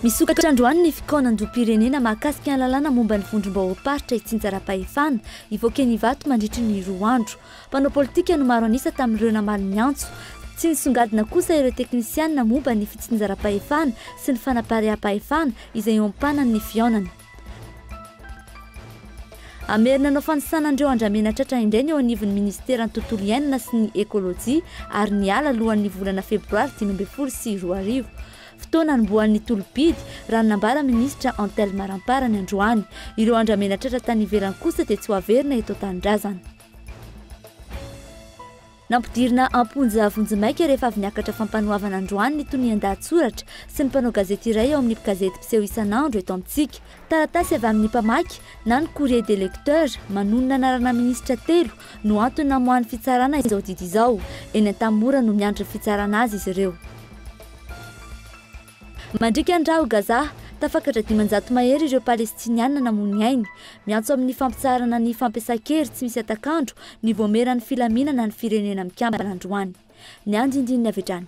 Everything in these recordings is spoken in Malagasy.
Misokatra androany ny fikaonandoham-pirenena mahakasika ny lalàna momba ny vondrom-bahoakaritra itsinjara-pahefana hivoaka eny Ivato mandritra ny roa andro. Mpanao politika no maro an'isa tamin'ireo namaly ny antso. Tsy nisongadina kosa ireo teknisianina momba ny fitsinjaram-pahefana sy ny fanapariaham-pahefana izay eo am-panany ny fihaonana. Hamerina hanao fanisana an'ireo andramena tratra indray ny eo anivon'ny minisiteran'ny Tontolo iainana sy ny ekolojia ary ny ala alohan'ny volana febroary dimy ambin'ny folo sy roa arivo. Fotoana anombohan'ny tolom-pidy, raha ny nambaran'ny minisitra Antelme Ramparany androany. Ireo andramena tratra tany ivelany kosa dia tsy ho averina eto an-tanindrazana. Nampidirina am-ponja vonjimaika rehefa avy niakatra fampanoavana androany ny tonian-dahatsoratra sy ny mpanao gazety iray ao amin'ny gazety mpiseho isan'andro eto amintsika. Taratasy avy amin'ny mpamaky na ny courrier des lecteurs manonona anarana minisitra telo no antony namoahan'ny fitsarana izao didy izao. Eny Antamimora no miandry ny fitsarana azy izy ireo. Mandriaka ny ra ao Gaza, tafakatra dimanjato mahery ireo Palestiniana namoy ny ainy. Miantso amin'ny fampitsaharana ny fampiasan-kery tsy misy hatak'andro ny Vaomieran'ny Filaminana ny Firenena Mikambana androany. Ny andindininy avy hatrany.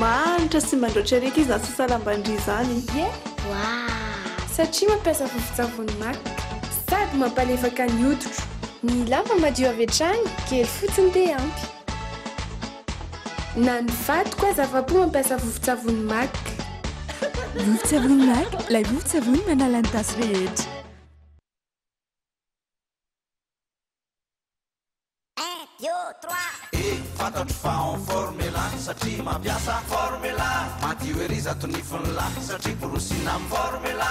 Mahantra sy mandraotra ery akia izany sasalam-ban-dry izany. Ie wa! Satria mampiasa vovon-tsavony maka. Sady mampalefaka ny hoditro. Ny lamba madio avy hatrany, kely fotsiny dia ampy. Na ny vadiko aza afa-po mampiasa vovon-tsavony Mac. Vovon-tsavony Mac, ilay vovon-tsavony manala ny tasy rehetra. Fantatro fa en formela satria mampiasa formela Madio ery zato nify ny lahy satria borosina amin'ny formela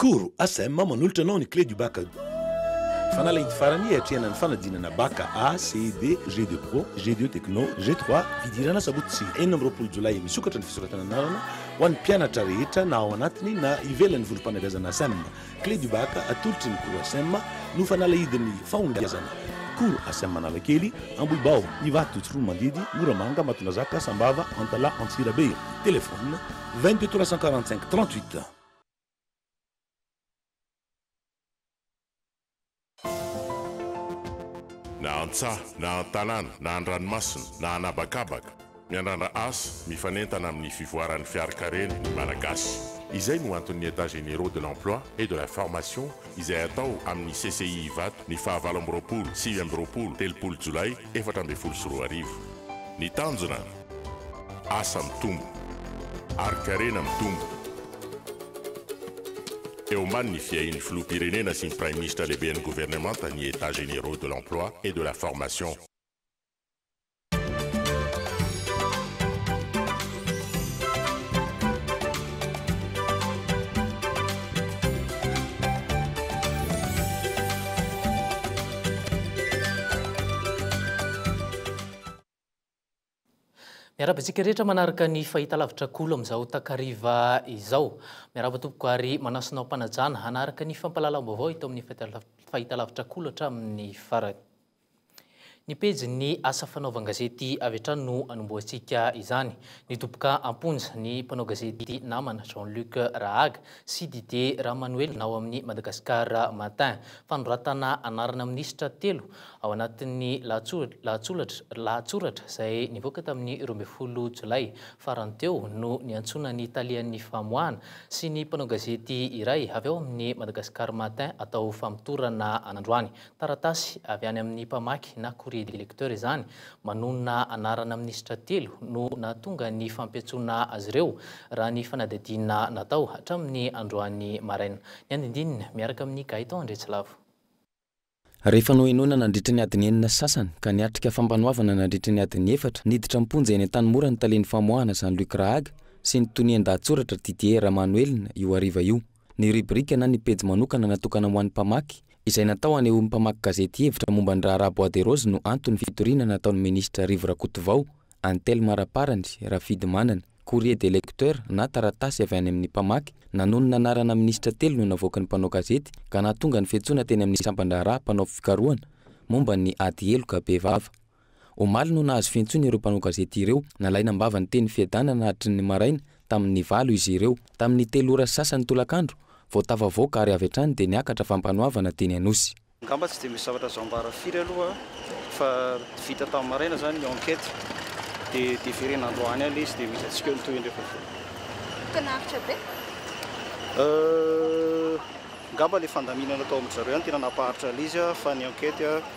Koro, ASM, manolotra anao ny clé du bac ado. Fanala id farany hiatrehana ny fanadinana bac A, CED, G deux pro, G deux techno, G trois, fidirana sabotsy enina amby roapolo jolay misokatra ny fisoratana anarana ho an'ny mpianatra rehetra na ao anatiny na ivelan'ny vondrom-panabeazana ASM. Clé du bac atolotry ny koro ASM no fanala idin'ny fahombiazana. Koro ASM Analakely, Ambohibao, Ivato, Tsiroanomandidy, Moramanga, Matondrazaka, Sambava, Antalaha, Antsirabe. Telephone. Vingt deux trois cent quarante cinq trente huit. Na an-tsaha, na an-tanàna, na an-dranomasina, na an'habakabaka, miandrandra asa, mifanentana amin'ny fivoaran'ny fiarikareny ny Malagasy. Izay no anton'ny Etats Généraux de l'Emploi et de la Formation izay atao amin'ny CCI Ivato ny fahavalo amby roapolo, sivy amby roapolo, telopolo Jolay efatra ambin'ny folo sy roa arivo. Ny tanjona? Asa mitombo ary karena mitombo eo ambany ny fiahian'ny Filoham-pirenena sy ny Praiminisitra Lehiben'ny Governemanta ny Etats Généraux de l'Emploi et de la Formation. Miarahaba antsika rehetra manaraka ny fahitalavitra Kolo amin'izao takariva izao. Miarahaba tompoko ary manasa anao am-panajana hanaraka ny fampahalalam-baovao eto amin'ny fahitalavitra Kolo hatramin'ny farany. Ny pejin'ny asa fanaovan-gazety avy hatrany no anombohantsika izany. Nidoboka am-ponja ny mpanao gazety namana Jean Luc Rahaga sy Didier Ramanoel ao amin'ny Madagascar Matin. Fanoratana anarana minisitra telo ao anatin'ny lahatsoratra izay nivoaka tamin'ny roa ambin'ny folo jolay farany teo no niantsoana ny talehan'ny famoahana sy ny mpanao gazety iray avy ao amin'ny Madagascar Matin atao famotorana an'androany. Taratasy avy any amin'ny mpamaky na courrier des lecteurs izany manonona anarana minisitra telo no nahatonga ny fampiantsoana azy ireo, raha ny fanadihadiana natao hatramin'ny androany maraina. Ny andindininy, miaraka amin'i Gaëtan Andriatsilavo. Rehefa nohenoina nandritra ny adiny enina sasany ka niatrika fampanoavana nandritra ny adiny efatra, niditra am-ponja eny Antanimora ny talen'ny famoahana Jean Luc Rahaga sy ny tonian-dahatsoratra Didier Ramanuelina io hariva io. ny rubrique na ny pejy manokana natokana ho an'ny mpamaky, izay natao hanehoan'ny mpamaky gazety hevitra momba ny raharaha Bois de Rose no anton'ny fitoriana nataon'ny minisitra Rivo Rakotovao, Antel Maraparany, Rafidimanana. Courrier des lecteurs na taratasy avy any amin'ny mpamaky nanonona anarana minisitra telo no navoakan'ny mpanao gazety ka nahatonga ny fiantsoana teny amin'ny sampan-draharaha mpanao fikarohana momba ny ady heloka bevava. Omaly no nahazo fiantsoana ireo mpanao gazety ireo. Nalaina am-bava ny teny fiadana nahatry ny maraina, tamin'ny valo izy ireo. Tamin'ny telo ora sy sasany tolakandro, vao tafavoaka ary avy hatrany dia niakatra fampanoavana teny Anosy. Angamba tsy dia misy zavatra azo ambara firy aloha fa vita tamin'ny maraina izany ny enquête dia deferena androany alina izy dia misy antsika eo ny tohiny rehefa avy eo. Toa naharitra be? Euh, angamba ilay fandaminana tao amin-dry zareo ihany tena nampaharitra an'ilay izy fa ny enquête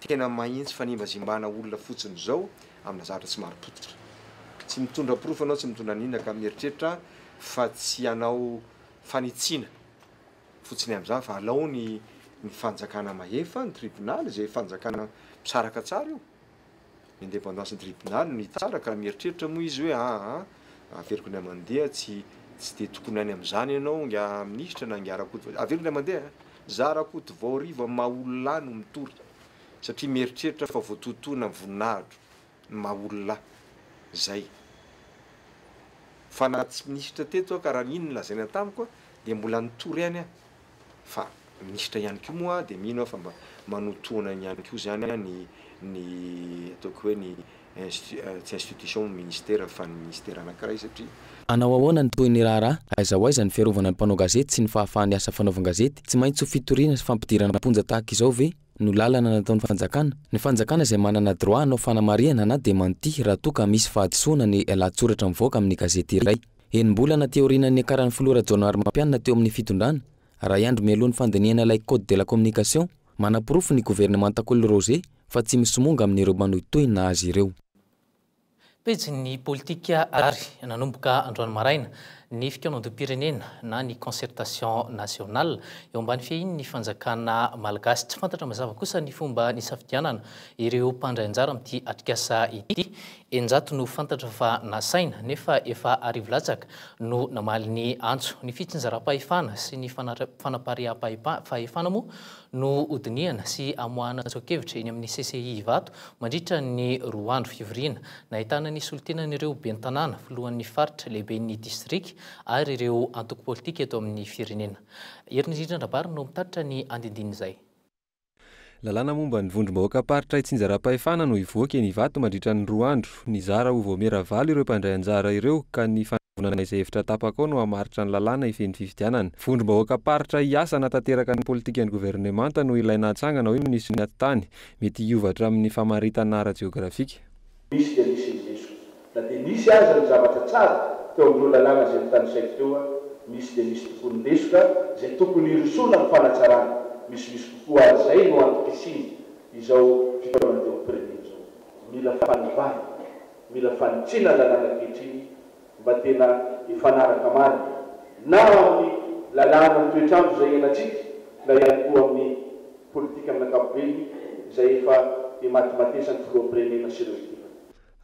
Tena mahintsy fanimbazimbana olona fotsiny zao amina zavatra tsy maro potika. Tsy mitondra porofo anao tsy mitondra an'inona ka mieritreritra fa tsy hanao fanitsiana fotsiny amzany fa alao ny ny fanjakana mahefa ny tribonaly ze fanjakana misaraka tsara io. Ny indepandansin'ny tribonaly no hitsara ka mieritreritra moa izy hoe aa averiko indray mandeha tsy tsy dia tokony any amin'izany ianao nga minisitra na nga Rakotovao, averiko indray mandeha a! Za Rakotovao rivo amin'ny maha olona ahy no mitory satria mieritreritra aho fa voatotoina ny voninahitro ny maha olona ahy. Zay. Fa na tsy minisitra teto aho ka raha iny no lazaina tamiko dia mbola nitory any aho Fa minisitra ihany koa moa dia mino aho fa mba manotoana iny ihany koa izany ny ny ataoko hoe ny insti- tsy institution moa ministera fa ny ministera anankiray satria Hanao ahoana ny tohin'ny raharaha? Aiza ho aiza ny fiarovana ny mpanao gazety sy ny fahafahan'ny asa fanaovan-gazety? Tsy maintsy ho fitoriana sy fampidirana am-ponja tahaka izao ve no lalana nataon'ny fanjakana? Ny fanjakana izay manana droit hanao fanamarihana na démenti raha toa ka misy fahadisoana ny lahatsoratra mivoaka amin'ny gazety iray. Enim-bolana teo aorianan'ny niakaran'ny filoha Rajaonarimampianina teo amin'ny fitondrana, iray andro mialoha ny fandinihana ilay Code de la communication, manaporofo ny governemanta Kolo Roger fa tsy misomonga amin'ireo manohitohina azy ireo. Pejin'ny politika ary nanomboka androany maraina ny fikaonandoham-pirenena na ny concertation nationale eo ambany fiahian'ny fanjakana malagasy. Tsy fantatra mazava kosa ny fomba nisafidianana ireo mpandray anjara amin'ity atrikasa ity. Eninjato no fantatra fa nasaina, nefa efa arivo latsaka no namaly ny antso. Ny fitsinjaram-pahefana sy ny fanapariaham-pahefana moa no hodinihana sy hamoahana tsoa-kevitra eny amin'ny CCI Ivato mandritra ny roa andro fivoriana, nahitana ny solontenan'ireo ben'ny tanàna, filohan'ny faritra, lehiben'ny distrika ary ireo antoko politika eto amin'ny firenena. Herinirina Rabary no mitatitra ny andindinin'izay. Lalàna momba ny vondrom-bahoakam-paritra itsinjaram-pahefana no hivoaka eny Ivato mandritra ny roa andro. Nizara ho vaomiera valo ireo mpandray anjara ireo ka ny fanavonana izay hevitra tapaka ao no hamaritra ny lalàna hifehy ny fifidianana. Vondrom-bahoakam-paritra hiasa hanatanteraka ny politikan'ny governemanta no ilaina hatsangana, hoy ny minisitry ny Atitany. Mety hiova hatramin'ny famaritana ara-jeografika. Nisy dia nisy ny diso. Na dia nisy aza ny zavatra tsara teo amin'ireo lalàna izay notanisaiko teo, nisy dia nisy tokoa ny lesoka izay tokony hirosoana amin'ny fanatsarana. Misimisy kokoa ary izay no antom-pisiany izao fitaomana andeha ho prenena izao. Mila fanovana, mila fanitsiana ny lalàna ankehitriny. mba tena hifanaraka marina na amin'ny lalàna ny toetr'andro izay iainantsika na ihany koa amin'ny politika amin'ny ankapobeny izay efa imatimatesan'ny Filoham-pirenena sy ireo ekipany.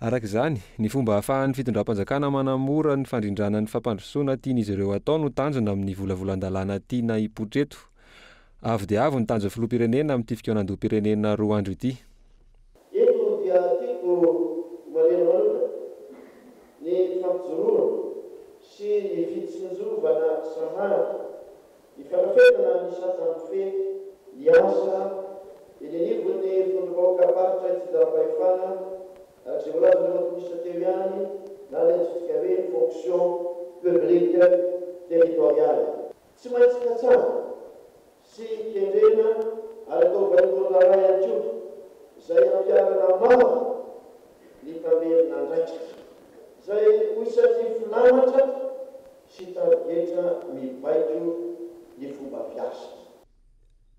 Araka izany, ny fomba ahafahan'ny fitondram-panjakana manamora ny fandrindrana ny fampandrosoana tian'izy ireo hatao no tanjona amin'ny volavolan-dalàna tiana hipoitra eto. Avo dia avo ny tanjon'ny Filoham-pirenena amin'ity fikaonandoham-pirenena roa andro ity. Eto dia tiako homariana manokana ny fampijoroana sy ny fitsinjovana sahady ny fandrafetana ny sajan'ny Kofehy miasa eny anivon'ny vondrom-bahoakam-paritra itsinjaram-pahefana, araka izay voalazan'ny Minisitra teo ihany, na ny antsointsika hoe Fonction Publique Territoriale. Tsy maintsy katsahina sy kendrena ary atao vaindohan-draharaha ihany koa, izay hampiharana mamo ny mpamerin-andraikitra, izay ho isan'ny filamatra sy tarigetra mibaiko ny fomba fiasa.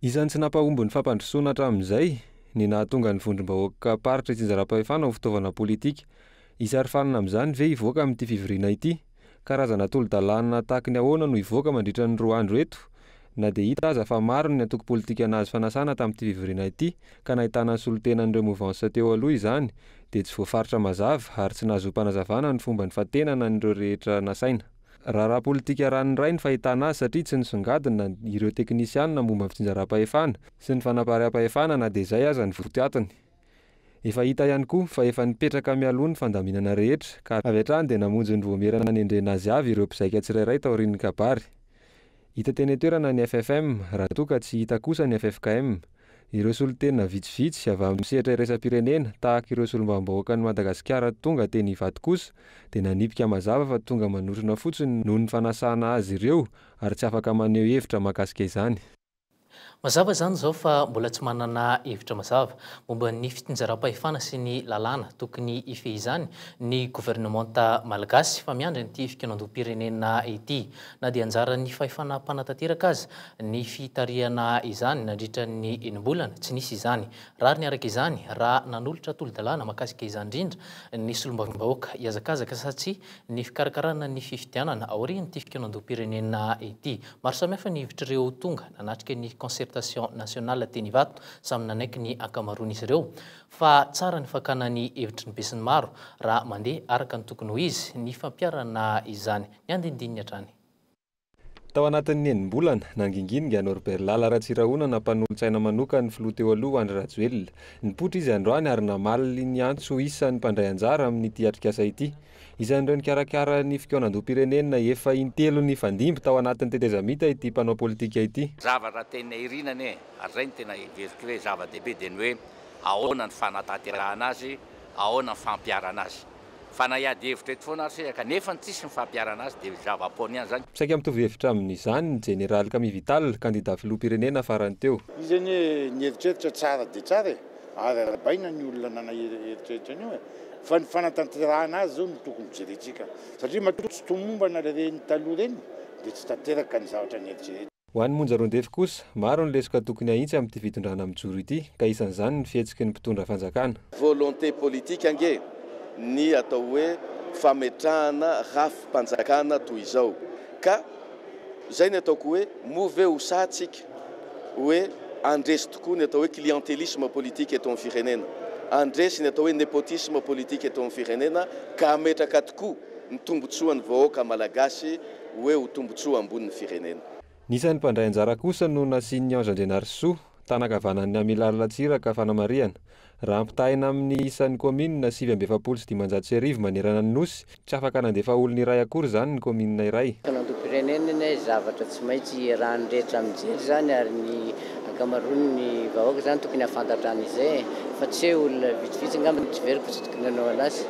Isan'ny tsy nampahomby ny fampandrosoana hatramin'izay ny nahatonga ny vondrom-bahoakam-paritra itsinjaram-pahefana ho fitaovana politika. Hisary fanina amin'izany ve hivoaka amin'ity fivoriana ity? Karazana tolo-dalàna tahaky ny ahoana no hivoaka mandritra ny roa andro eto? Na dia hita aza fa maro ny antoko politika nahazo fanasana tamin'ity fivoriana ity ka nahitana ny solontenan'ireo movansa teo aloha izany dia tsy voafaritra mazava ary tsy nahazoam-panazavana ny fomba nifantenana an'ireo rehetra nasaina raharaha politika raha ny ray ny fahitana azy satria tsy nisongadina ireo teknisianina momba ny fitsinjaram-pahefana sy ny fanapariaham-pahefana na dia izay aza ny votoatiny. Efa hita ihany koa fa efa nipetraka mialoha ny fandaminana rehetra ka avy hatrany dia namonjy ny voamera nanendrena azy avy ireo mpizaika tsirairay taorian'ny kabary. Hita teny an-toerana ny FFM raha toa ka tsy hita kosa ny ffkm, ireo solontena vitsivitsy avy amin'ny sehatra iraisam-pirenena tahaka ireo solombavambahoakan'i Madagasikara tonga teny Ivato kosa dia nanipika mazava fa tonga manotrona fotsiny noho ny fanasana azy ireo ary tsy afaka maneho hevitra mahakasika izany. Mazava izany izao fa mbola tsy manana hevitra mazava momba ny fitsinjaram-pahefana sy ny lalàna tokony hifehizany ny governemanta malagasy fa miandry an'ity fikanondom-pirenena ity na dia anjaran'ny fahefana mpanatanteraka aza ny fitarihana izany nandritra ny enim-bolana tsy nisy izany rariny araka izany raha nanolotra tolo-dalàna makasika izany indrindra ny solombavambahoaka hiazakazaka satsia ny fikarakarana ny fifidianana aorian'ity fikanondom-pirenena ity Maro samihafa ny hevitr'ireo tonga nanatrika ny Concertation Nationale teny Ivato, samy nanaiky ny ankamaroan'izy ireo, fa tsara ny fakana ny hevitry ny besinimaro raha mandeha araka ny tokony ho izy ny fampiharana izany. Ny andinindininy hatrany. Tao anatin'ny enim-bolana, nangingininga Norbert Lala Ratsirahonana mpanolotsaina manokan'ny filoha teo aloha Andry Rajoelina. Nipoitra izy androany ary namaly ny antso isan'ny mpandray anjara amin'ity atrikasa ity. Isan'ireo nikarakara ny fikaonandoham-pirenena efa intelo nifandimby tao anatin'ny tetezamita ity mpanao politika ity. Zavatra tena irina anie, ary izay no tena heveriko hoe zava-dehibe dia ny hoe ahoana ny fanatanterahana azy, ahoana ny fampiharana azy. Fa na hiady hevitra eto foana ary sisa ka nefa ny tsisy ny fampiharana azy dia zava-poana ihany izany. Saika mitovy hevitra amin'izany ny jeneraly Camille Vital, kandida filoham-pirenena farany teo. Izy anie ny heritreritra tsara dia tsara e! ary arabaina ny olona nanaery eritreritra an'io e! fa ny fanatanterahana azy zao no tokony jerentsika satria matoa tsy tomombana le reny taloha reny de tsy tanteraka ny zavatra nieritreretina. Ho an'i Monja Rondefy kosa, maro ny lesoka tokony hahitsy amin'ity fitondrana mijoro ity ka isan'izany ny fihetsiky ny mpitondra fanjakana. Volonté politique ange ny atao hoe fametrahana rafi-panjakana toy izao ka. Izay ny ataoko hoe moa ve ho sahy tsika hoe handresy tokoa ny atao hoe clientelisme politique eto amin'ny firenena, handresy ny atao hoe nepotisme politique eto amin'ny firenena ka hametraka tokoa ny tombotsoan'ny vahoaka malagasy hoe ho tombotsoa ambonin'ny firenena. Ny isan'ny mpandray anjara kosa no nasian'i Ange Andrianarisoa, tanan-kavanan'ny Amilaly Ratsiraka fanamarihana, Raha ampitahaina amin'ny isan'ny kaominina sivy amby efapolo sy dimanjato sy arivo manerana ny Nosy, tsy afaka nandefa olona iray akory izany ny kaominina iray. Fanantonam-pirenena ny hoe zavatra tsy maintsy iarahan'ny rehetra mijery izany ary ny ankamaroan'ny vahoaka izany tokony hahafantatra an'izay e! Fa tsy hoe olona vitsivitsy angamba no tsy very fa tsy tokony hanao an'asa.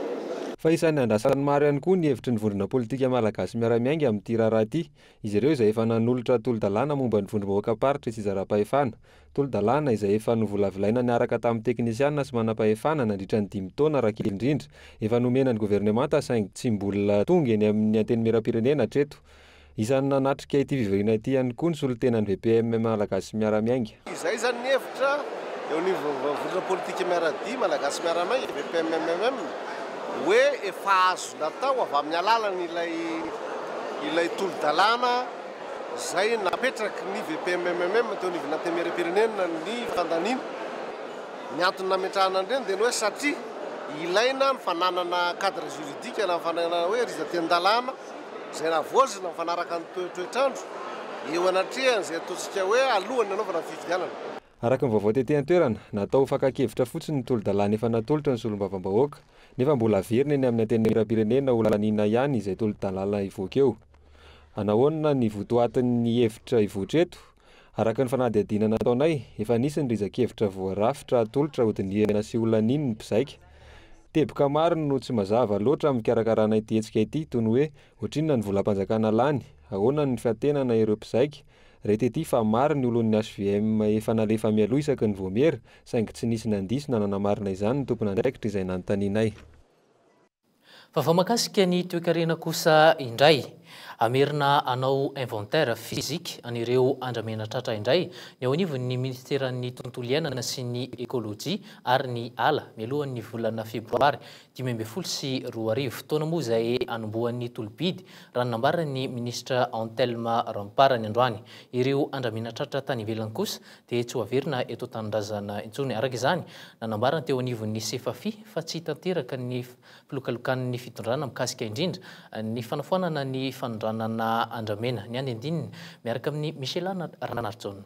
Fa isan'ny andrasan'ny maro ihany koa ny hevitry ny vondrona politika malagasy miara-miainga amin'ity raharaha ity, izy ireo izay efa nanolotra tolo-dalàna momba ny vondrom-bahoakam-paritra sy zara-pahefana, Tolo-dalàna izay efa novolavolaina niaraka tamin'ny teknisiana sy manampahefana nandritra ny dimy taona raha kely indrindra. Efa nomena ny governemanta saingy tsy mbola tonga eny amin'ny Antenimierampirenena hatreto. Isan'ny nanatrika ity fivoriana ity ihany koa ny solontenan'ny VPM Malagasy Miara-Miainga. Izay izany ny hevitra eo anivon'ny Vondrona Politika Miara-dia Malagasy Miara-Miainga, VPMMM, hoe efa azo natao avy amin'ny alalan'ilay ilay tolo-dalàna. izay napetraky ny VPMMM teo anivon'ny Antenimierampirenena ny fandaniana. Ny antony nametrahana an'ireny dia ny hoe satria ilaina ny fananana cadre juridique na ny fananana hoe rizaten-dalàna izay navoazina mifanaraka amin'ny toetr'andro eo anatrehan'izay ataontsika hoe alohan'ny hanaovana ny fifidianana. Araka ny vaovao tety an-toerana, natao ho fakan-kevitra fotsiny ny tolo-dalàna efa natolotra ny solombavambahoaka, nefa mbola haverina eny amin'ny Antenimierampirenena ho laniana ihany izay tolo-dalàna hivoaka eo. Anahoana ny votoatin'ny hevitra hivoitra eto? Araka ny fanadihadiana nataonay, efa nisy ny riza-kevitra voarafitra hatolotra hodinihana sy holaniany ny mpizaika. Teboka maro no tsy mazava loatra amin'ny fikarakarana ity hetsika ity, toy ny hoe, ohatrinona ny volam-panjakana lany? Ahoana ny fiantenana ireo mpizaika? Re tety fa maro ny olon'ny hvm efa nalefa mialoha isaky ny voamiera, saingy tsy nisy nandiso na nanamarina izany ny tompon'andraikitra izay nanontanianay. Vaovao mahakasika ny toekarena kosa indray. Hamerina hanao inventaire physique an'ireo andramenatratra indray ny eo anivon'ny minisiteran'ny Tontolo iainana sy ny ekolojia ary ny ala mialohan'ny volana febroary dimy ambin'ny folo sy roa arivo. Fotoana moa izay anombohan'ny tolo-bidy, raha ny nambaran'ny minisitra Antelme Ramparany androany. Ireo andramena tratra tany ivelany kosa dia tsy ho averina eto an-tanindrazana intsony. Araka izany, nanambara ny teo anivon'ny Sefafi fa tsy tanteraka ny filokalokan'ny fitondrana mikasika indrindra ny fanafoanana ny fanondranana andramena. Ny andinindininy miaraka amin'i Michela Ranarijaona.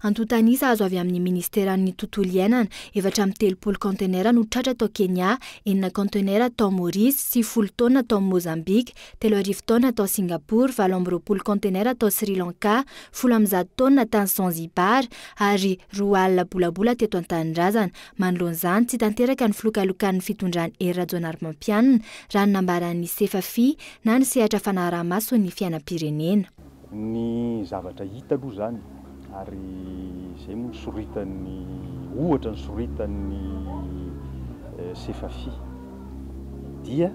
Antontan'isa azo avy amin'ny Minisiteran'ny Tontolo iainana, efatra amby telopolo kaontenera no tratra tao Kenya, enina kaontenera tao Maurice, sivifolo taonina tao Mozambika, telo arivo taonina tao Singapour, valo amby roapolo kaontenera tao Sri Lanka, folo amby zato taonina tany Zanzibar ary roa alina bolabola teto an-tanindrazana. Manoloana izany, tsy tanteraka ny filokalokan'ny fitondran'i Hery Rajaonarimampianina, raha ny nambaran'ny Sefafi na ny sehatra fanaraha-maso ny fiainam-pirenena. Ny zavatra hita aloha izany ary izay moa nosoritan'ny ohatra nosoritan'ny Sefafi dia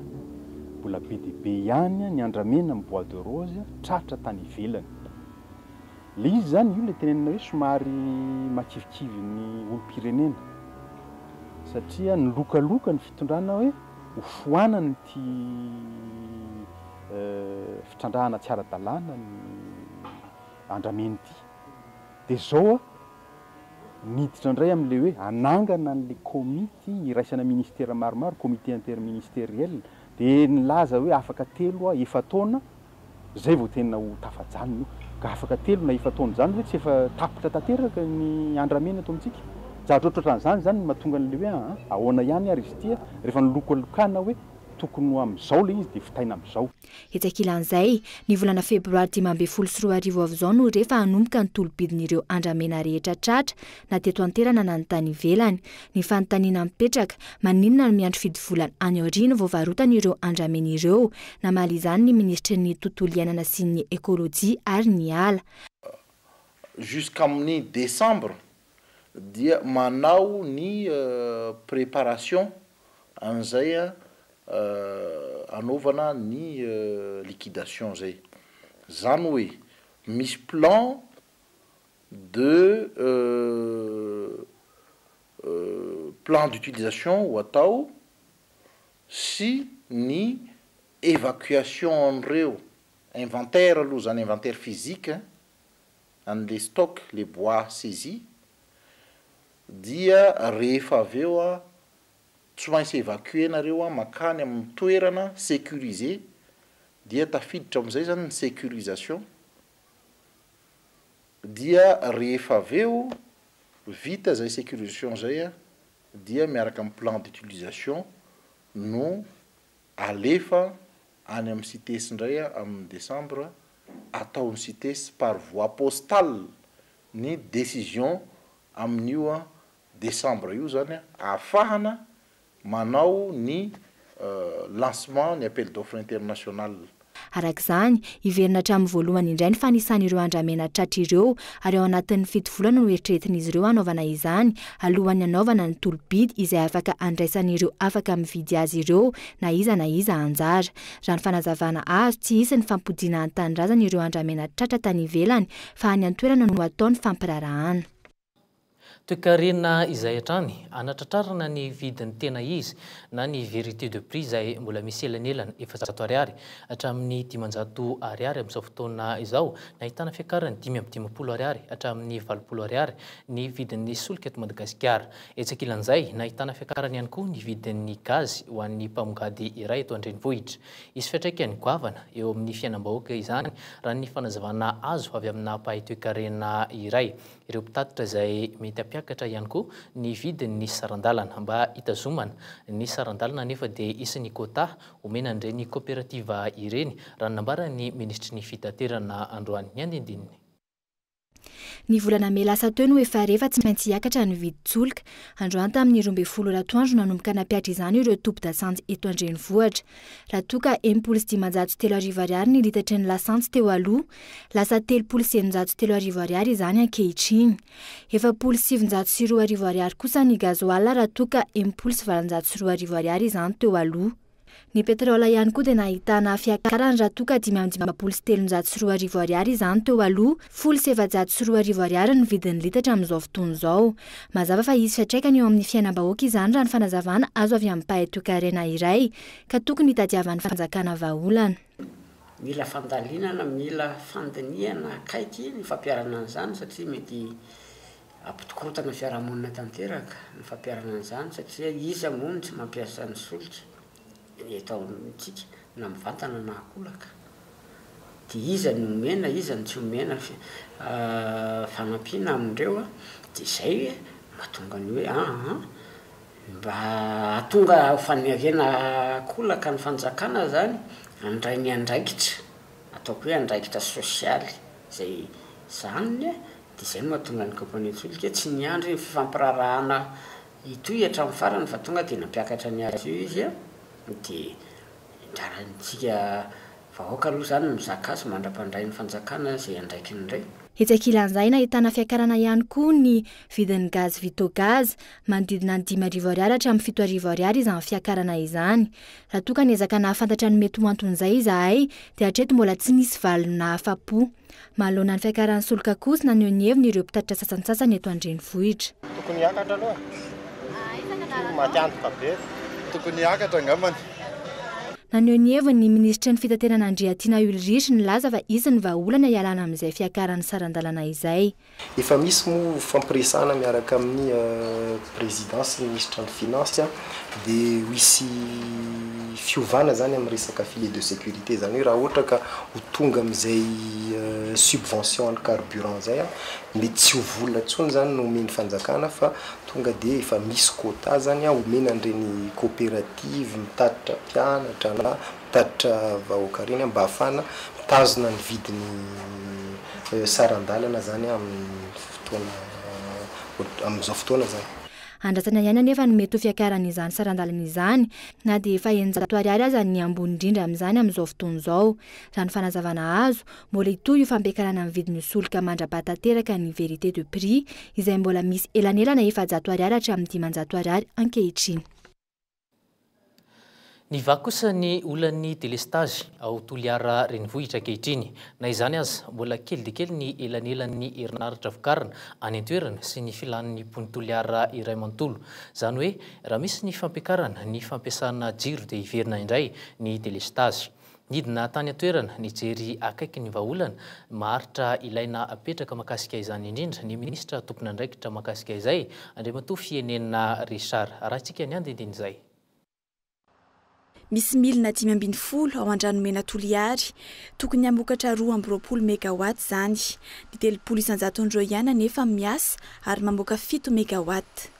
mbola be dia be ihany ny andramena amin'ny bois de rose tratra tany ivelany. Ilay izy izany, io ilay tenenina hoe somary makivikivy ny olom-pirenena satria nilokaloka ny fitondrana hoe hofoanany ity fitrandrahana tsy ara-dalàna ny andramena ity dia zao aho niditra indray amin'ilay hoe hanangana an'ilay komity iraisana ministera maromaro, comité interministériel, dia nilaza hoe afaka telo a efa-taona Zay vao tena ho tafajanona io. Ka afaka telo na efa-taona zany ve tsy efa tapitra tanteraka ny andramena eto amintsika? Zatra ohatran'izany izany no mahatonga an'ilay hoe aa ahoana ihany ary izy ity a! Rehefa nilokalokana hoe tokony ho amin'izao ilay izy dia vitaina amin'izao. Etsy ankilan'izay, ny volana febroary dimy ambin'ny folo sy roa arivo avy izao no refa hanomboka ny tolobidin'ireo andramena rehetra tratra, na teto an-toerana na ny tany ivelany. Ny fanontaniana mipetraka, maninona no miandry fidy volana any aoriana vao varotany ireo andramena ireo? Namaly izany ny minisitry ny Tontolo iainana sy ny Ekolojia ary ny ala. Jusqu'amin'ny décembre dia manao ny préparation an'izay hanaovana ny liquidation izay. Izany hoe misy plan de plan d'utilisation ho atao sy ny évacuation an'ireo inventaire aloha izany inventaire physique an'ilay stock le bois saisi dia rehefa avy eo tsy maintsy évacuer nareo mankany amin'ny toerana sécurisé dia tafiditra amin'izay izany ny sécurisation Dia rehefa avy eo vita izay sécurisation izay dia miaraka amin'ny plan d'utilisation no alefa any amin'ny CITES indray amin'ny décembre ataon'ny CITES par voie postale ny décision amin'io décembre io izany ahafahana manao ny lancement ny appel d'offre international. Araka izany, hiverina hatramin'ny voalohany indray ny fanisana ireo andramena tratra ireo ary ao anatin'ny fito volana no eritreretin'izy ireo hanaovana izany alohan'ny hanaovana ny tolo-bidy izay afaka handraisan'ireo afaka mividy azy ireo na iza na iza anjara. Raha ny fanazavana azo, tsy hisy ny fampodiana an-tanindrazana ireo andramena tratra tany ivelany fa any an-toerana no hatao ny fampiraharahana. Toekarena izay hatrany anatratrarana ny vidin'ny tena izy na ny vérité de prix izay mbola misy elanelana efajato ariary hatramin'ny dimanjato ariary amin'izao fotoana izao nahitana fiakarany dimy amby dimampolo ariary hatramin'ny valopolo ariary ny vidin'ny solika eto Madagasikara. Etsy ankilan'izay, nahitana fiakarany ihany koa ny vidin'ny gazy ho an'ny mpamongady iray eto an-drenivohitra. Hisy fiantraikany goavana eo amin'ny fiainam-bahoaka izany raha ny fanazavana azo avy amina mpahay toekarena iray. ireo mpitatitra izay mety hampiakatra ihany koa ny vidin' ny saran-dalana. Mba hitazomana ny saran-dalana anefa dia hisy ny quota homena an'ireny kaoperativa ireny, raha ny nambaran'ny minisitry ny Fitaterana androany. Ny andinindininy. Ny volana mey lasa teo no efa re fa tsy maintsy hiakatra ny vidin-tsolika. Androany tamin'ny roa ambin'ny folo ora atoandro nanomboka nampiatra izany ireo tobin-dasantsy eto an-drenivohitra. Raha toa ka enimpolo sy dimanjato sy telo arivo ariary ny litatry ny lasantsy teo aloha, Lasa telopolo sy eninjato sy telo arivo ariary izany ankehitriny. Efapolo sy sivinjato sy roa arivo ariary kosa ny gazoala raha toa ka enimpolo sy valonjato sy roa arivo ariary izany teo aloha. Ny petrole ihany koa dia nahitana fiakarany raha toa ka dimy amby dimampolo sy telonjato sy roa arivo ariary izany teo aloha, folo sy efajato sy roa arivo ariary ny vidin'ny litatra amin'izao fotoana izao. Mazava fa hisy fiantraikany eo amin'ny fiainam-bahoaka izany raha ny fanazavana azo avy amin'ny mpahay toekarena iray ka tokony hitadiavan'ny fanjakana vahaolana. Mila fandalinana, mila fandinihana akaiky ny fampiharana an'izany satria mety hampitokotana fiarahamonina tanteraka ny fampiharana an'izany satria iza moa no tsy mampiasa ny solika eto amintsika na mivantana na an-kolaka? Dia iza no omena, iza no tsy omena fanampiana amin'ireo? Dia izay mahatonga ny hoe an! Mba hahatonga ho faniriana hahakolaka ny fanjakana izany, handray ny andraikitra, ataoko hoe andraikitra sosialy izay zanany, dia izay no mahatonga ny kaompania tsolika tsy niandry ny fifampiraharahana hitohy hatramin'ny farany fa tonga dia nampiakatra ny azy io izy dia niandrantsika Vahoaka aloha izany no mizaka azy mandra-pandray ny fanjakana izay andraikiny re. Etsy ankilan'izay nahitana fiakarana ihany koa ny vidin'ny gaz Vitogaz, manodidina ny dimy arivo ariary hatramin'ny fito arivo ariary izany fiakarana izany. Raha toa ka niezaka nahafantatra ny mety ho anton'izay izahay dia hatreto mbola tsy nisy valiny nahafa-po. Manoloana ny fiakaran'ny solika kosa naneho ny heviny ireo mpitatitra sasantsasany eto an-drenivohitra. Tokony hiakatra aloha. Tsy maty antoka be. Tokony hiakatra angambany. Naneho ny heviny ny minisitry ny Fitaterana Andriatiana Ulrich nilaza fa hisy ny vahaolana hialana amin'izay fiakaran'ny saran-dalana izay. Efa misy moa fampiresahana miaraka amin'ny Prezida sy ny Minisitra ny Finansy dia ho hisy fiovana izany amin'ny resaka filet de sécurité, izany hoe raha ohatra ka ho tonga amin'izay subvention an'ny carburant izay, mety tsy ho vola intsony izany no omen'ny fanjakana fa tonga dia efa misy quota izany omena an'ireny coopérative mitatitra mpianatra na Tatitra vahoaka reny mba afahana mitazona ny vidiny saran-dalana zany amin'ny fotoana amin'izao fotoana zany. Andrasana ihany anefa ny mety ho fiakaran'izany saran-dalana izany na dia efa eninjato ariary aza ny ambony indrindra amin'izany amin'izao fotoana izao. Raha ny fanazavana azo, mbola hitohy io fampiakarana ny vidin'io solika mandra-ba tanteraka ny vérité de prix izay mbola misy elanelana efajato ariary hatramin'ny dimanjato ariary ankehitriny. Ny vaky kosa ny olan'ny delestazy ao Toliara renivohitra ankehitriny. Na izany aza, mbola kely dia kely ny elanelan'ny herinaratra vokarina any an-toerana sy ny filàn'ny mpon'i Toliara iray manontolo. Izany hoe raha misy ny fampiakarana ny fampiasana jiro dia hiverina indray ny delestazy. Nidina tany an-toerana nijery akaiky ny vahaolana maharitra ilaina apetraka mahakasika izany indrindra ny minisitra tompon'andraikitra mahakasika izay, Andriamatoa Fienena Richard. Arahintsika ny andinindin'izay. Misy milina dimy ambin'ny folo ao Andranomena Toliary. Tokony hamokatra roa amby roapolo megawatts izany. Ny telopolo isan-jaton'ireo ihany anefa miasa ary mamoaka fito megawatts.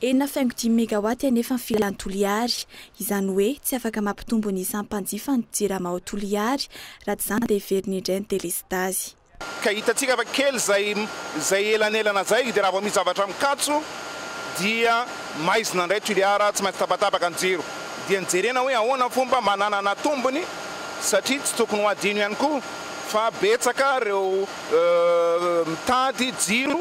Enina faingo dimy megawatt anefa ny filan'i Toliary. Izany hoe tsy afaka mampitombo ny isan'ny mpanjifa ny Jirama ao Toliary, raha tsy izany dia heveriny indray ny delestazy. Ka hitantsika fa kely izay izay elanelana izay dia raha vao misy zavatra mikatso dia maizina indray Tuliara, tsy maintsy tapatapaka ny jiro. Dia ny jerena hoe ahoana ny fomba mba hananana tombony satria tsy tokony ho adino ihany koa fa betsaka ireo mitady jiro.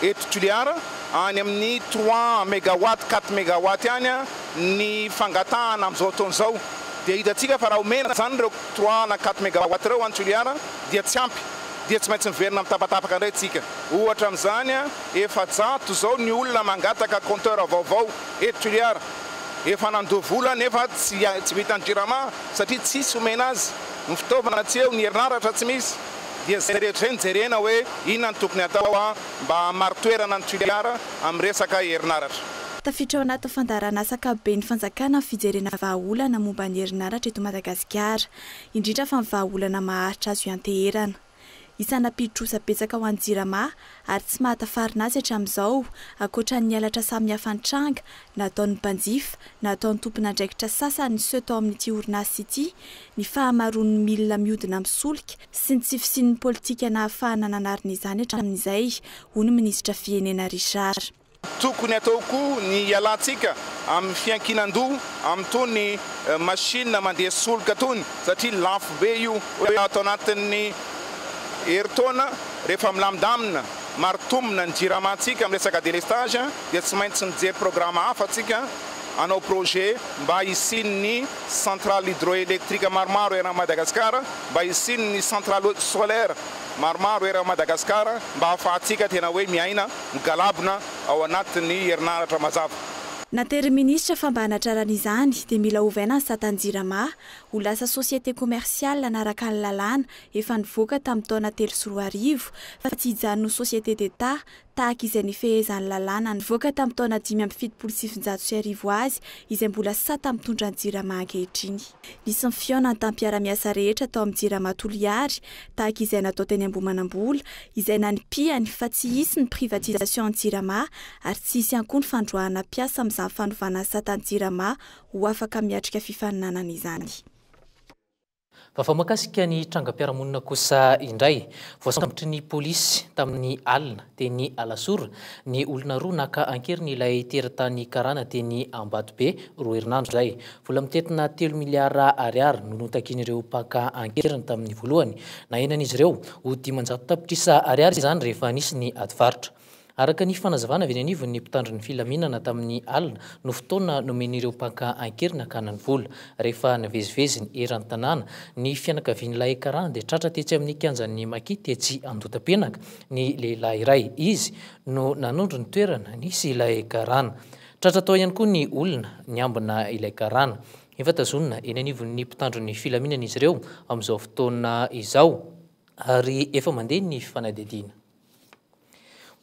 Eto Toliara, any amin'ny trois megawatts, quatre megawatts any ny fangatahana amin'izao fotoana izao. Dia hitantsika fa raha omena izany ireo trois na quatre megawatts ireo any Toliara dia tsy ampy, dia tsy maintsy miverina amin'ny tapatapaka indray isika. Ohatra amin'izany, efajato izao ny olona mangataka compteur vaovao eto Toliara. Efa nandoa vola nefa tsy vitan'ny Jirama satria tsisy omena azy. Ny fitaovana tsy eo, ny herinaratra tsy misy. dia izay rehetra izay no jerena hoe inona no tokony atao mba hahamari-toerana ny Toliara amin'ny resaka herinaratra. Tafiditra ao anatin'ny fandaharanasa ankapoben'ny fanjakana ny fijerena vahaolana momba ny herinaratra eto Madagasikara, indrindra fa ny vahaolana maharitra azo ianteherana. Isana mpidrotra betsaka ao any Jirama ary tsy mahatafarina azy hatramin'izao, ankoatra ny halatra samihafa nitranga, nataon'ny mpanjifa, nataon'ny tompon'andraikitra sasany niseho tao amin'ity orinasa ity, ny fahamaroan'ny milina mihodina misolika sy ny tsy fisian'ny politika nahafahana nanarina izany hatramin'izay, hoy ny minisitra Fienena Richard. Tokony atao koa ny hialantsika amin'ny fiankinan-doha amin'itony machine mandeha solika itony satria lafo be io. Ato anatin'ny herintaona rehefa milamindamina, maritombina ny jiramantsika amin'ny resaka délestage dia tsy maintsy mijery programa hafa tsika hanao projet mba hisian'ny centrale hydroélectrique maromaro eran'i Madagasikara, mba hisian'ny centrale solaire maromaro eran'i Madagasikara mba hahafahantsika tena hoe miaina. migalabona ao anatin'ny herinaratra mazava. Naterin'ny minisitra fa mba hanatrarana izany dia mila ovaina ny satan'ny Jirama ho lasa société commerciale hanaraka ny lalàna efa nivoaka tamin'ny taona telo sy roa arivo fa tsy hijanona ho société d'Etat tahaka izay nifehezan'ny lalàna nivoaka tamin'ny taona dimy amby fitopolo sy sivinjato sy arivo azy izay mbola sata mitondra ny Jirama ankehitriny. Nisy ny fihaonana tamin'ny mpiara-miasa rehetra tao amin'ny Jirama Toliary tahaka izay natao teny Ambohimanambola, izay nanipihany fa tsy hisy ny privatisation any Jirama ary tsy hisy ihany koa ny fandroahana mpiasa amin'izany fanovana asa tany Jirama ho afaka miatrika fifaninanana izany. Vaovao mahakasika ny trangam-piarahamonina kosa indray, voasambotry ny polisy tamin'ny alina teny Alasora, ny olona roa naka an-keriny ilay teratany karana teny Ambatobe, roa herinandro izay. Vola mitentina telo miliara ariary no notakian'ireo mpaka an-keriny tamin'ny voalohany. Nahenan'izy ireo ho dimanjato tapitrisa ariary izany rehefa nisy ny adivarotra. Araka ny fanazavana avy eny anivon'ny mpitandro ny filaminana tamin'ny alina no fotoana nomen'ireo mpaka an-keriny hakana ny vola. Rehefa nivezivezy ny eran-tanàna ny fianakavian'ilay karana dia tratra tetsy amin'ny kianjan'ny Maki tetsy Andotapenaka. ny lehilahy iray. Izy no nanondro ny toerana nisy ilay karana. Tratra tao ihany koa ny olona niambina ilay karana. Efa tazonina eny anivon'ny mpitandro ny filaminana izy ireo amin'izao fotoana izao ary efa mandeha ny fanadihadiana.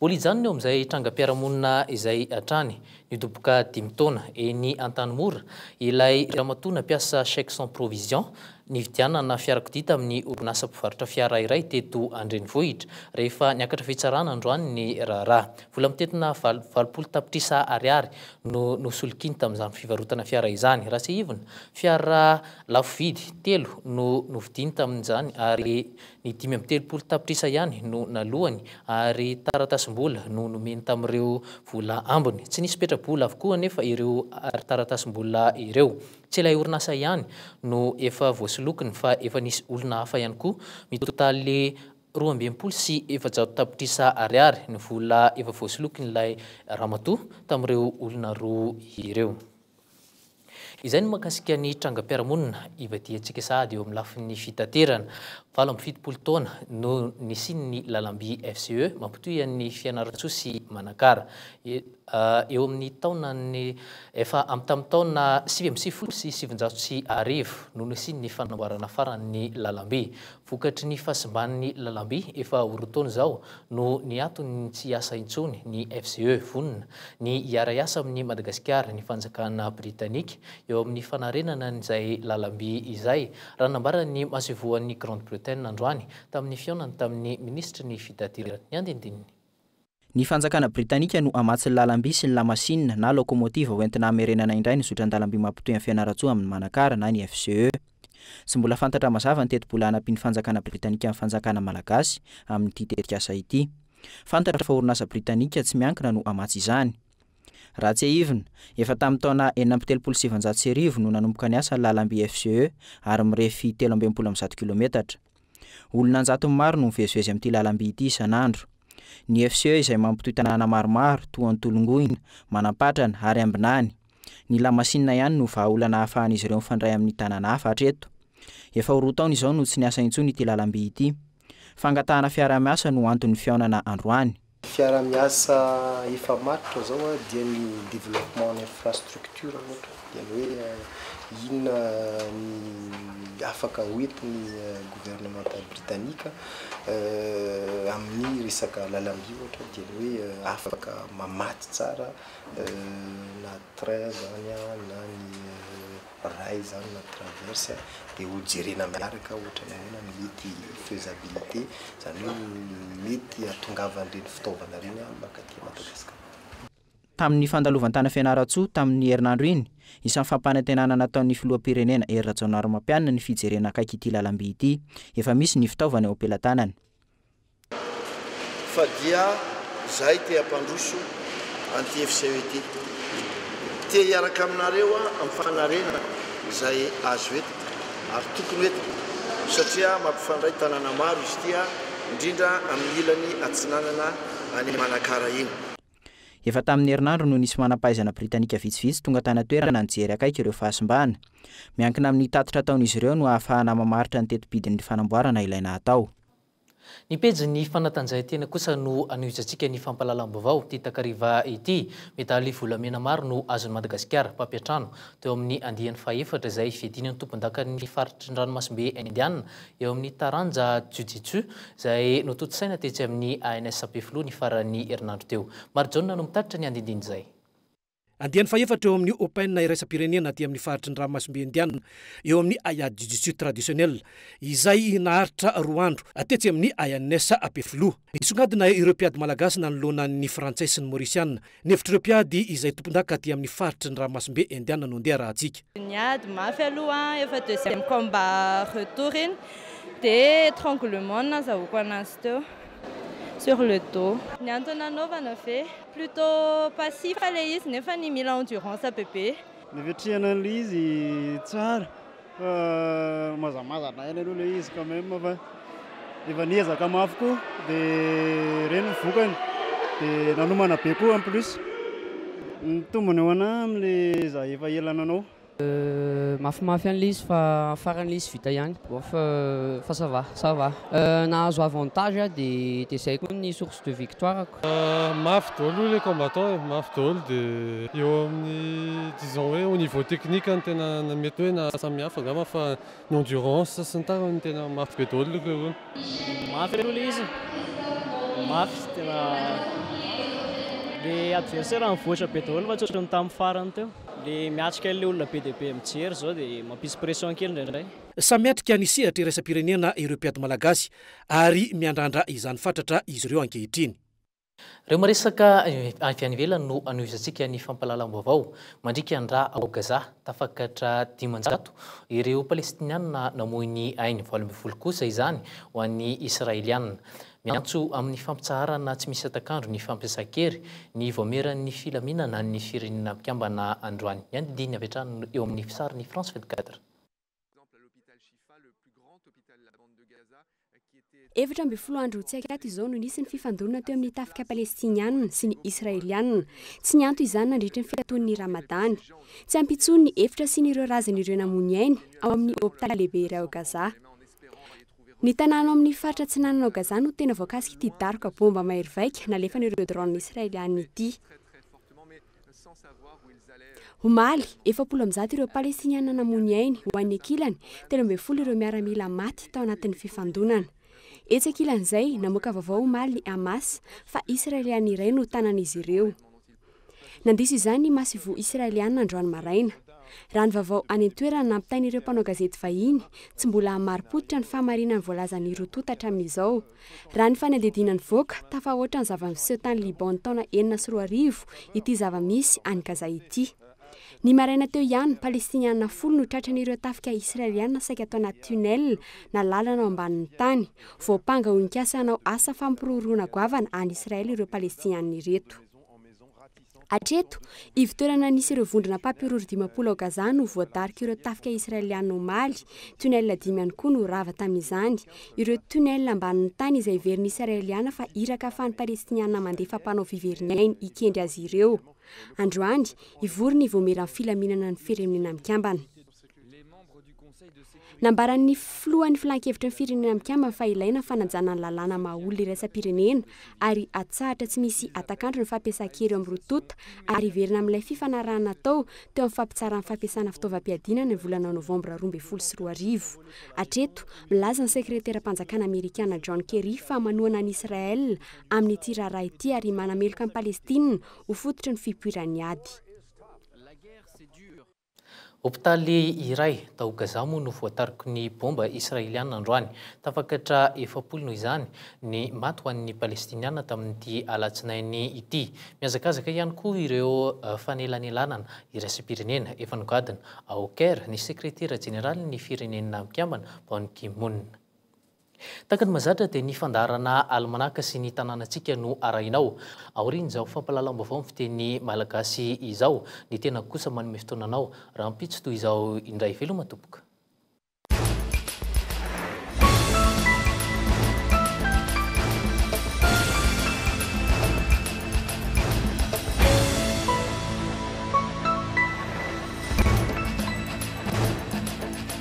Mbola hijanona eo amin'izay trangam-piarahamonina izay hatrany. Nidoboka dimy taona eny Antanimora ilay ramatoa nampiasa chèque sans provision nividianana fiarakodia tamin'ny orinasa mpivarotra fiara iray teto an-drenivohitra. Rehefa niakatra fitsarana androany ny raharaha, vola mitentina valopolo tapitrisa ariary no nosolokiany tamin'izany fivarotana fiara izany. Raha tsiahivina, fiara lafo vidy telo no novidiany tamin'izany ary Ny dimy amby telopolo tapitrisa ihany no naloany ary taratasim-bola no nomeny tamin'ireo vola ambiny. Tsy nisy petra-bola avokoa anefa ireo taratasim-bola ireo. Tsy ilay orinasa ihany no efa voasolokiny fa efa nisy olona hafa ihany koa. Mitotaly roa amby enimpolo sy efajato tapitrisa ariary ny vola efa voasolokin'ilay ramatoa tamin'ireo olona roa ireo. Izay ny mahakasika ny trangam-piarahamonina ivadihantsika sahady eo amin'ny lafiny fitaterana. Valo amby fitopolo taona no nisian'ny lalam-by FCE mampitohy an'i Fianarantsoa sy Manakara. Eo amin'ny taonan'ny efa amin'ny tamin'ny taona sivy amby sivifolo sy sivinjato sy arivo no nisian'ny fanamboarana farany ny lalam-by. Vokatry ny fahasimban'ny lalamby efa ho roa taona izao no niaton ny tsy hiasa intsony ny FCE. Vonona ny hiara-hiasa amin'i Madagasikara ny fanjakana Britanika eo amin'ny fanarenana an'izay lalamby izay, raha nambaran'ny masoivohon'i Grande-Bretaine androany tamin'ny fihaonany tamin'ny minisitry ny Fitaterana. Ny andinindininy. Ny fanjakana britanika no hamatsy ny lalam-by sy ny lamasinina na laokomotiva hoentina hamerenana indray ny zotran-dalam-by mampitohy an'i Fianarantsoa amin'i Manakara na ny FCE. Tsy mbola fantatra mazava ny tetibola hanampian'ny fanjakana britanika ny fanjakana malagasy amin'ity tetikasa ity. Fantatra fa orinasa britanika tsy miankina no hamatsy izany. Raha tsiahivina, efa tamin'ny taona enina amby telopolo sy sivinjato sy arivo no nanomboka niasa ny lalam-by FCE ary mirefy telo amby enimpolo amby zato kilometatra. Olona an-jatony maro no mivezivezy amin'ity lalamby ity isan'andro. Ny FCE izay mampitohy tanàna maromaro toa an'i Tolongoina, Manampatrana ary Ambinany. Ny lamasinina ihany no vahaolana ahafahan'izy ireo mifandray amin'ny tanàna hafa hatreto. Efa ho roa taona izao no tsy niasa intsony ity lalamby ity. Fangatahana fiaraha-miasa no anton'ny fihaonana androany. Fiarahamiasa efa matotra izao dia ny développement en infrastructure ohatra, dia ny hoe inona ny afaka ho entin'ny gouvernemanta britanika amin'ny resaka lalamby ohatra dia ny hoe afaka mamatsy tsara na train izany na ny Raha izany na traverse dia ho jerena miaraka ohatra ny ahoana ny mety faisabilité, izany hoe ny mety hahatongavan'ireny fitaovana ireny mankaty Madagasikara. Tamin'ny fandalovan-tany Fianarantsoa tamin'ny herinandro iny, isan'ny fampanantenana nataon'ny Filoham-pirenena Hery Rajaonarimampianina ny fijerena akaiky ity lalamby ity. Efa misy ny fitaovana eo am-pelatanany. Fa dia izahay te hampandroso an'ity FCE ity. Te hiaraka aminareo aho amin'ny fanarenana izay azo entina ary tokony ho entina satria mampifandray tanàna maro izy ity indrindra amin'ny ilany atsinanana any Manakara iny. Efa tamin'ny herinandro no nisy manam-pahaizana britanika vitsivitsy tonga tany an-toerana nijery akaiky ireo fahasimbana. Miankina amin'ny tatitra ataon'izy ireo no ahafahana mamaritra ny teti-bidin'ny fanamboarana ilaina hatao. Ny pejin'ny fanatanjahantena kosa no anohijantsika ny fampahalalam-baovao ity takariva ity. Medaly volamena maro no azon'i Madagasikara, mpampiantrano, teo amin'ny andiany fahaefatra izay fiadiana ny tompondakan'ny faritry ny ranomasimbe Indiana eo amin'ny taranja Jiu-Jitsu izay notontosaina tetsy amin'ny ANS Ampefiloha ny faran'ny herinandro teo. Marijaona no mitatitra ny andinindiny izay. Andiany fahefatra eo amin'ny Open iraisam-pirenena aty amin'ny faritry ny ranomasimbe Indiana eo amin'ny Ayah Jiu-Jitsu Traditionnel izay naharitra roa andro tetsy amin'ny ANS Ampefiloha. Nisongadina ireo mpiady malagasy nanoloana ny frantsay sy ny maorisiana. Ny hevitr'ireo mpiady izay tompondaka aty amin'ny faritry ny ranomasimbe Indiana no ndeha arahantsika. Niady mafy aloha efa deuxième combat retour iny dia etranglement no nazahoako anazy teo sur le dos. Ny antony nanaovana ve? Plutôt passif ilay izy nefany mila endurance bebe. Ny fiatrehana an'ilay izy tsara fa mazamazana aina aloha ilay izy quand même fa efa niezaka mafy koa dia ireny ny vokany dia nanomana be koa en plus. Ny tombony ho anà amin'ilay izaho efa ela nanao. Mafimafy any le izy fa farany le izy vita ihany off fa ça va ça va nahazo avantage ah de de zay koa ny source de victoire ko. Mafy daholo le combattant e, mafy daholo de eo amin'ny disons hoe au niveau technique no tena mety hoe nahasamihafa angamba fa ny endurance sy ny tariny no tena mafy be daholo le roa. Mafy aloha le izy, mafy tena le adversaire nivoatra be daholo fa tsy ohatran'ny tamin'ny farany teo. Le miatrika ilay olona be dia be mijery izao dia mampisy pression kely indraindray. Samy miatrika ny sehatra iraisam-pirenena ireo mpiady malagasy ary miandrandra izany fatratra izy ireo ankehitriny. Ireo maresaka avy any ivelany no anohizantsika ny fampahalalam-baovao mandrika ny rà ao Gaza. Tafakatra dimanjato ireo Palestiniana namoy ny ainy, valo ambin'ny folo kosa izany ho an'ny Israeliana. Miantso amin'ny fampitsaharana tsy misy hatak'andro ny fampiasan-kery ny Vaomieran'ny filaminana an'ny Firenena Mpikambana androany. Ny andidiny avy hatrany eo amin'ny fisarin'ny France 24. Efatra ambin'ny folo andro tsy akaty izao no nisy ny fifandonana teo amin'ny tafika Palestiniana sy ny Israeliana. Tsy nianto izany nandritry ny fikaton'ny Ramadany. Tsy ampy intsony ny efitra sy ny ireo razan'ireo namoy ny ainy ao amin'ny hopitaly lehibe iray ao Gaza. Ny tanàna ao amin' ny faritra atsinanan' ao Gaza no tena voakasikh' ity daroka baomba mahery vaika nalefan' ireo drôna israeliana ity. Omaly, efapolo amby zato ireo Palestiniana namoy ny ainy, ho an'ny ankilany, telo ambin'ny folo ireo miaramila maty tao anatin'ny fifandonana. Etsy ankilan'izay, namoaka vaovao omaly ny Hamas fa Israeliana iray no tanan'izy ireo. Nandiso izany ny Masivoho Israeliana androany maraina. Raha ny vaovao any an-toerana nampitain'ireo mpanao gazety vahiny, tsy mbola marim-pototra ny fahamarinan'ny voalazan'ny roa tonta hatramin'izao. Raha ny fanadihadiana nivoaka, tafahoatra ny zava-niseho tany Liban ny taona enina sy roa arivo ity zava-misy any Gaza ity. Ny maraina teo ihany, Palestiniana folo no tratran'ireo tafika Israeliana saika tao anaty tunnel na lalana ao ambanin'ny tany. Voampanga ho nikasa hanao asa fampirorohana goavana any Israely ireo Palestiniana ireto. Hatreto, ivo-toerana nisy ireo vondrona mpampihorohoro dimampolo ao Gaza no voadarika ireo tafika Israeliana omaly. Tunnel dimy ihany koa no rava tamin'izany. Ireo tunnel ambanin'ny tany izay heverin'ny Israeliana fa iraka ahafahan'ny Palestiniana mandefa mpanao fiverin-ainy hikendry azy ireo. Androany, hivory ny Vaomieran'ny Filaminana ny Firenena Mikambana. Nambaran'ny filohan'ny filan-kevitry ny Firenena Mikambana fa ilaina ny fanajana ny lalàna maha olona iraisam-pirenena ary hatsahatra tsy misy hatak'andro ny fampiasan-kery eo amin'ny roa tonta ary hiverina amin'ilay fifanarahana natao teo amin'ny fampitsaran'ny fampiasana fitaovam-piadiana ny volana novambra roa ambin'ny folo sy roa arivo. Hatreto, milaza ny sekreteram-panjakana amerikana John Kerry fa manohana an'i Israel amin'ity raharaha ity ary manameloka an'i Palestina ho fototry ny fipoiran'ny ady. Hopitaly iray tao Gaza moa no voatariky ny baomba Israeliana androany. Tafakatra efapolo noho izany ny maty ho an'ny Palestiniana tamin'ity alatsinainy ity. Mihazakazaka ihany koa ireo fanelanelanana iraisam-pirenena efa nogadona ao Caire ny Sekretera jeneralin'ny Firenena Mikambana Ban Ki-moon. Tahaka ny mahazatra dia ny fandaharana alimanaka sy ny tanànantsika no arahina ao aorian'izao fampahalalam-baovao amin'ny fiteny malagasy izao. Ny tenako kosa manome fotoana anao rahampitso toy izao indray. Veloma tompoko.